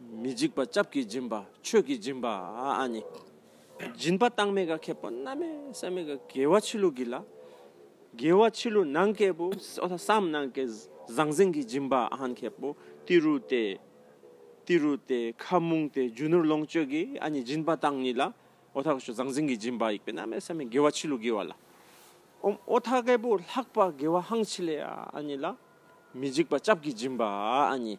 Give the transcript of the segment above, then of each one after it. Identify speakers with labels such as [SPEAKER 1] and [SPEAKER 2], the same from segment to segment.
[SPEAKER 1] མི་འཇིགས་པ་སྐྱབས་ཀྱིས་སྦྱིན་པ་ཆོས་ཀྱིས་སྦྱིན་པ་ནི། སྦྱིན་པ་བཏང་མེད་ག་ཁེ་པོ་རྣམ་མེད་བསམ་མེད་ག་དགེ་བ་ཕྱི་ལུགས་ཀྱི་ལ། དགེ་བ་ཕྱི་ལུགས་ནང་སྐྱེས་བུ་བསམ་གནང་གི་ཟང་ཟིང་གིས་སྦྱིན་པ་ཨ་ནི་ཁེ་པོ་ཏི་རུ་ཏེ། ཏི་རུ་ཏེ་ཁ་མུང་ཏེ་རྒྱུ་ནོར་ལོངས་སྤྱོད་ཀྱི་ཨ་ནི་སྦྱིན་པ་བཏང་ཉིད་ལ། ཨོ་ཐ་ཟང་ཟིང་གིས་སྦྱིན་པ་ཡིག་པའི་རྣམ་མེད་བསམ་མེད་དགེ་བ་ཕྱི་ལུགས་ཀྱི་བ་ལ། ཨོ་ཐ་སྐྱེས་བུ་ལྷག་པ་དགེ་བ་ཧང་ཆི་ལེ་ཨ་ནི་ལ། མི་འཇིགས་པ་སྐྱབས་ཀྱིས་སྦྱིན་པ་ཨ་ནི།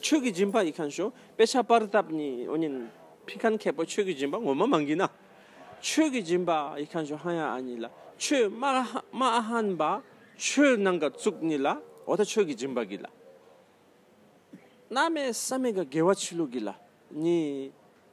[SPEAKER 1] ཆོས་ཀྱི་སྦྱིན་པ་ཡི་ཁང་ཞོ་དཔེ་ཆ་པར་བཏབ་ནི་ཨོ་ཉིན། ཕི་ཁན་མཁས་པོ་ཆོས་ཀྱི་སྦྱིན་པ་ངོ་མ་མ་འགི་ན། ཆོས་ཀྱི་སྦྱིན་པ་ཡི་ཁང་ཞོ་ཧན་ཡ་ཨ་ཉི་ལ་ཆོས་སྨྲ་སྨྲ་ཨ་ཧན་པ་ཆོས་ནང་ག་བཙུགས་ནི་ལ་ཨོ་ད་ཆོས་ཀྱི་སྦྱིན་པ་གི་ལ། སྣ་མེད་ས་མེད་ག་དགེ་བ་ཆི་ལུགས་གི་ལ་ཉི།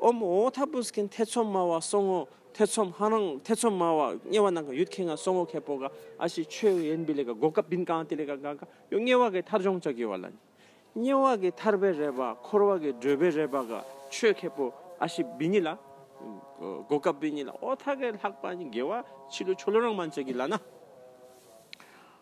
[SPEAKER 1] ཨོ་མོ་འོ་ཐ་པུ་སྐན་ཐེ་ཚོམ་མ་བ་སོང་ངོ་ཐེ་ཚོམ་ཧ་རང་ཐེ་ཚོམ་མ་བ་དམྱལ་བ་ནང་ག་ཡུད་ཁེ་ང་སོང་ངོ་ཁེ་པོ་ག་ཨ་ཤི་ཆོས་ཡེན་བི་ལེ་ག་གོ་ཀ་བིན་ཀང་ཏི་ལེ་ག་ག་ག་ཡོ་དམྱལ་བ་གའི་མཐར་སྦྱོང་བྱ་གི་བ་ལ་ནི་དམྱལ་བ་གའི་མཐར་བེ་རེ་བ་འཁོར་བ་གའི་སྒྲོལ་བེ་རེ་བ་ག་ཆོས་ཁེ་པོ་ཨ་ཤི་བི་ཉི་ལ་གོ་ཀ་བི་ཉི་ལ་འོ་ཐ་གའི་ལྷག་པ་ནི་དགེ་བ་ཕྱི་ལོ་ཆོ་ལོ་རང་མ་བྱ་གི་ལ་ན།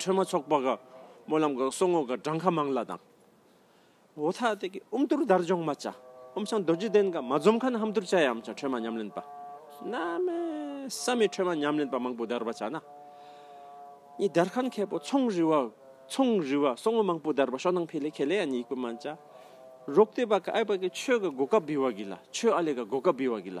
[SPEAKER 1] ཁྲོན་མོ་ཚོགས་པ་ག་མོ་ལམ་ག་སོགས་ངོ་ག་བྲང་ཁ་མང་ལ་དང། འོ་ཐ་ཏེ་གི་ཨུམ་ཏུར་དར་འཇོག་མ་བཅའ་ཨུམ་ཆང་རྡོ་རྗེ་གདན་ག་མ་འཛོམ་ཁ་ན་ཧམ་ཏུར་བཅའ་ཡའམ་བཅའ་ཁྲོན་མ་ཉམས་ལེན་པ་ན་མེ་ས་མི་ཁྲོན་མ་ཉམས་ལེན་པ་མང་པོ་དར་བ་བཅའ་ན་ནི་དར་ཁན་ཁེ་པོ་ཚོང་རི་བ་ཚོང་རི་བ་སོགས་ངོ་མང་པོ་དར་བ་ཤོག་ནང་ཕེ་ལེ་ཁེ་ལེ་ཡ་ནི་ཡིག་པོ་མ་བཅའ་རོག་ཏེ་བ་ག་ཨེ་བ་གི་ཆོས་ག་གོ་ག་བི་བ་གི་ལ་ཆོས་ཨ་ལེ་ག་གོ་ག་བི་བ་གི་ལ།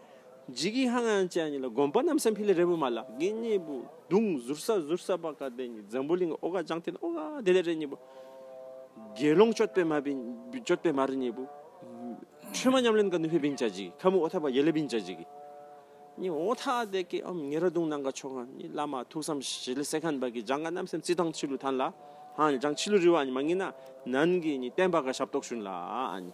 [SPEAKER 1] འཇིགས་ཀྱི་ཧང་ཧང་ཅན་གཉིས་ལ་དགོན་པ་རྣམས་སམ་ཕི་ལི་རེ་བུ་མ་ལ་གི་གཉིས་པོ་དུང་ཟུར་ས་ཟུར་ས་པ་ཀ་དེ་གཉིས་འཛམ་བུ་གླིང་ཨོ་ཀ་ལྗང་ཐིན་ཨོ་ཀ་དེ་ལས་རེ་གཉིས་པོ་དགེ་སློང་གཅོད་པའི་མ་གཅོད་པའི་མ་རེ་གཉིས་པོ་ཁྲོས་མ་ཉམས་ལེན་ག་ནུས་པའི་བིང་ཅ་གཅིག་ཁ་མུ་ཨོ་ཐ་པ་ཡེ་ལེ་བིང་ཅ་གཅིག་གཉིས་ཨོ་ཐ་དེ་ཀའི་ཨོམ་ངེ་ར་དུང་ནང་ག་ཆོ་ག་གཉིས་བླ་མ་ཐུགས་བསམ་ཞི་ལི་སེ་ཁན་པ་ཀི་ལྗང་ག་རྣམས་སེམས་ཅི་ཐང་ཆི་ལུ་ཐན་ལ་ཧང་ལྗང་ཆི་ལུ་རི་བ་གཉིས་མ་ངེས་ན་ནན་གི་གཉིས་བསྟན་པ་ཀ་ཞབས་ཏོག་ཞུན་ལ་གཉིས།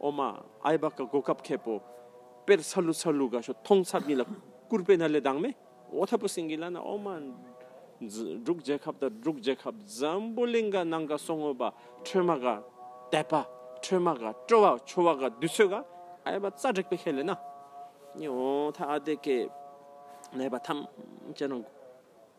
[SPEAKER 1] ཨོ་མ་ཨའི་བ་ཀ་གོ་ཀ་བ་ཁེ་པོ་པེར་ཚ་ལུ་ཚ་ལུ་ག་ཤོ་ཐོང་ཚ་བསྙི་ལ་ཀུར་པེ་ན་ལེ་དང་མེ་ཨོ་ཐ་པོ་སིང་གི་ལ་ན་ཨོ་མ་འབྲུག་རྒྱལ་ཁབ་དང་འབྲུག་རྒྱལ་ཁབ་འཛམ་བུ་གླིང་ག་ནང་ག་སོ་ངོ་བ་ཁྲོས་མ་ག་དད་པ་ཁྲོས་མ་ག་སྤྲོ་བ་ཆོ་བ་ག་དུས་ཚོད་ག་ཨའི་བ་ཙ་དྲེག་པེ་ཁེ་ལེ་ན་ཨོ་ཐ་ཨ་དེ་ཀེ་ནའི་བ་ཐམས་ཅད་ན།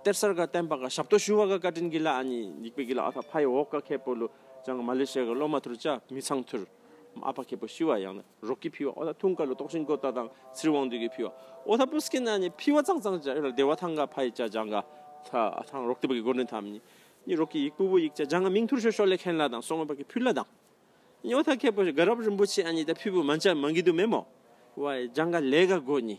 [SPEAKER 1] གཏེར་གསར་དགའ་ལྡན་པ་ག་ཞབས་ཏོ་ཞུ་བ་ག་བཀའ་དྲིན་གྱི་ལ་ཨ་ཉི་འཇིགས་པའི་གྱི་ལ་ཨ་ཕ་ཕ་ཡི་འོག་ག་ཁེ་པོ་ལུ་ཅང་གི་མ་ལེ་ཤ་ཡ་གི་སློབ་མ་ཐུར་ཅག་མི་ཚང་ཐུར་མ་ཨ་ཕ་ཁེ་པོ་ཤི་བ་ཡང་ན་རོག་གི་ཕི་བ་ཨོ་ད་ཐུང་ཀ་ལུ་ཏོག་ཤིན་ཀོ་ཏ་དང་ཚིར་དབང་འདུས་གི་ཕི་བ་ཨོ་ད་པུ་སྐེ་ན་ནི་ཕི་བ་ཙང་ཙང་ཅག་ཨེ་ར་སྡེ་བ་ཐང་ག་ཕ་ཡི་ཅག་ཅང་ག་ཐ་ཨ་ཐང་རོག་ཏི་པ་གི་གོ་ནི་ཐམ་ནི་ནི་རོག་གི་ཡིག་པུ་བུ་ཡིག་ཅག་ཅང་ག་མིང་ཐུར་ཤོ་ཤོ་ལེ་ཁེན་ལ་དང་སོག་མ་པ་གི་ཕུ་ལ་དང་ནི་ཨོ་ད་ཁེ་པོ་ཤི་ག་རབ་རིན་པོ་ཆེ་ཨ་ཉི་ད་ཕི་བུ་མ་འཇ་མ་འགི་དུ་མེ་མོ་བ་ཡི་ཅང་ག་ལེ་ག་གོ་ནི།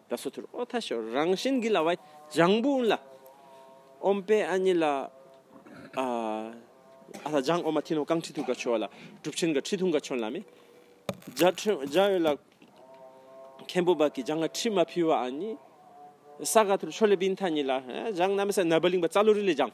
[SPEAKER 1] ད་སོ་ཐུར་ཨོ་ཐ་ཤོ་རང་བཞིན་གྱི་ལ་བ་ལྗང་བུ་ལ་ཨོམ་པའི་ཨ་ཉི་ལ་ཨ་ལ་ལྗང་ཨོ་མ་ཐི་ནོ་ཀང་ཁྲི་ཐུ་ག་ཆོ་ལ་གྲུབ་ཆེན་ག་ཁྲི་ཐུང་ག་ཆོན་ལ་མེ་བརྒྱ་ཁྲི་བརྒྱ་ཡོད་ལ་མཁན་པོ་བ་གི་ལྗང་ང་ཁྲི་མ་ཕི་བ་ཨ་ཉི་ས་ག་ཐུར་ཆོ་ལེ་བིན་ཐ་ཉི་ལ་ལྗང་ན་མི་ས་ན་བ་ལིང་བ་ཙ་ལུ་རི་ལས་ལྗང།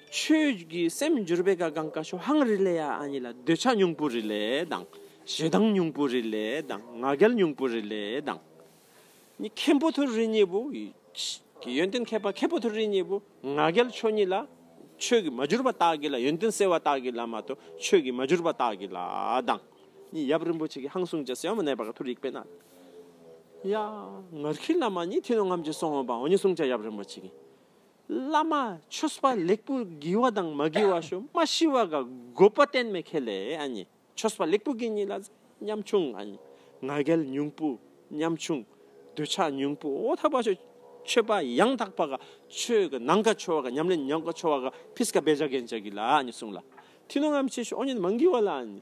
[SPEAKER 1] ཆོས་ཀྱི་སེམས་འགྱུར་བའི་ག་གང་ཀ་ཤོ་ཧང་རི་ལས་ཡ་ཨ་ཉི་ལ་འདོད་ཆགས་སྙུང་པོ་རི་ལས་དང། ཞེ་སྡང་སྙུང་པོ་རི་ལས་དང་ང་རྒྱལ་སྙུང་པོ་རི་ལས་དང། ནི་མཁན་པོ་ཐུར་རི་གཉིས་པོ། ཀྱི་ཡོན་ཏན་མཁས་པ་མཁན་པོ་ཐུར་རི་གཉིས་པོ་ང་རྒྱལ་ཆོས་གཉིས་ལ། ཆོས་ཀྱི་མ་གྱུར་པ་དག་གི་ལ་ཡོན་ཏན་གསལ་བ་དག་གི་ལ་མ་ཏོ་ཆོས་ཀྱི་མ་གྱུར་པ་དག་གི་ལ་དང། ནི་ཡབ་རིན་པོ་ཆེ་གི་ཧང་སུང་ཅེ་སེའོ་མ་ནས་པ་ཀ་ཐུར་ཡིག་པེ་ན། ཡ། ངར་ཁི་ལ་མ་ནི་ཐི་ནོ་ངམ་ཅི་སོང་བ་འོ་ནི་སུང་ཅ་ཡབ་རིན་པོ་ཆེ་གི། བླ་མ་ཆོས་སྤ་ལེགས་པོ་དགེ་བ་དང་མ་དགེ་བ་ཞོ་མ་ཤི་བ་ག་དགོས་པ་གཏན་མེད་ཁེ་ལས་ཨ་ཉེ་ཆོས་སྤ་ལེགས་པོ་དགེ་གཉིས་ལ་ཉམ་ཆུང་ཨ་ཉེ་ང་རྒྱལ་ཉུང་པོ་ཉམ་ཆུང་འདོད་ཆགས་ཉུང་པོ་འོ་ཐག་པ་ཞོ་ཆོས་པ་ཡང་དག་པ་ག་ཆོས་ག་ནང་ག་ཆོས་བ་ག་ཉམས་ལེན་ཉམས་ག་ཆོས་བ་ག་ཕིས་ག་བེ་བྱ་གན་བྱ་གི་ལ་ཨ་ཉེ་གསུངས་ལ་ཐི་ནོ་ང་མི་ཆེ་ཞོ་ཨོ་ཉེ་མ་དགེ་བ་ལ་ཨ་ཉེ།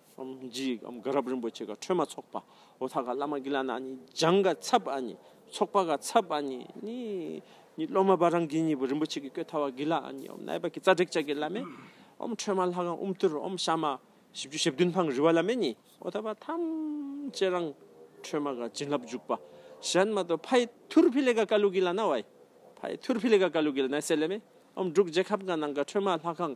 [SPEAKER 1] སམ་རྗེའི་དགའ་རབ་རིན་པོ་ཆེ་ག་ཁྲོས་མ་ཚོགས་པ་འོ་ཐ་ག་བླ་མ་ཀི་ལ་ན་ནི་སྦྱང་ག་ཚབ་ཨ་ནི་ཚོགས་པ་ག་ཚབ་ཨ་ནི་ནི་ནི་སློབ་མ་བ་རང་གི་ཉིད་པོ་རིན་པོ་ཆེ་གི་བཀོད་ཐ་བ་གི་ལ་ཨ་ནི་འོ་ན་ཨེ་པ་ཀི་ཙཀྲིག་ལྕགས་ཀི་ལ་མེ་འོ་ཁྲོས་མ་ལྷ་ཁང་དབུ་མཐུར་འོ་ཤ་མ་བཞི་བཅུ་ཞེ་བདུན་འཕང་རི་བ་ལ་མེ་ནི་འོ་ཐ་བ་ཐམས་ཅད་རང་ཁྲོས་མ་ག་བྱིན་རླབས་འཇུག་པ་གཞན་མ་ཏོ་ཕའི་ཐུར་ཕི་ལེ་ག་ཀ་ལུ་ཀི་ལ་ན་བའི་ཕའི་ཐུར་ཕི་ལེ་ག་ཀ་ལུ་ཀི་ལ་ན་སེ་ལེ་མེ་འོ་འབྲུག་རྗེ་ཁབ་ག་ནང་ག་ཁྲོས་མ་ལྷ་ཁང་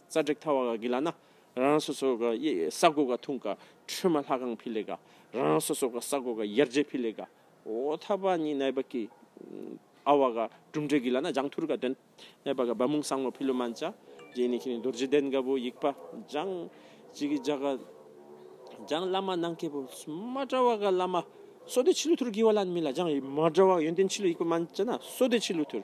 [SPEAKER 1] རྩ་སྒྲིག་མཐའ་བ་ག་གི་ལ་ན་རང་རང་སོ་སོ་ག་ཡི་ས་དགོ་ག་ཐུང་ག་ཁྲོས་མ་ལྷ་ཁང་ཕི་ལེ་ག་རང་རང་སོ་སོ་ག་ས་དགོ་ག་ཡར་རྗེ་ཕི་ལེ་ག་འོ་ཐ་བ་ནི་ནའི་བ་གི་ཨ་བ་ག་གྲུབ་འབྲས་གི་ལ་ན་ལྗང་ཐུར་ག་དོན་ནའི་བ་ག་བ་མུང་སངས་མོ་ཕི་ལུ་མན་ཅ་རྗེ་ནི་ཁི་ནི་རྡོར་རྗེ་གདན་ག་བུ་ཡིག་པ་ལྗང་ཅི་གི་ལྗག་ག་ལྗང་བླ་མ་ནང་ཁེ་བུ་མ་ཏྲ་བ་ག་བླ་མ་སོ་ཏི་ཆི་ལུ་ཐུར་གི་བ་ལ་ནི་མི་ལ་ལྗང་ཡི་མ་ཏྲ་བ་ཡོན་ཏན་ཆི་ལུ་ཡིག་པ་མན་ཅ་ན་སོ་ཏི་ཆི་ལུ་ཐུར།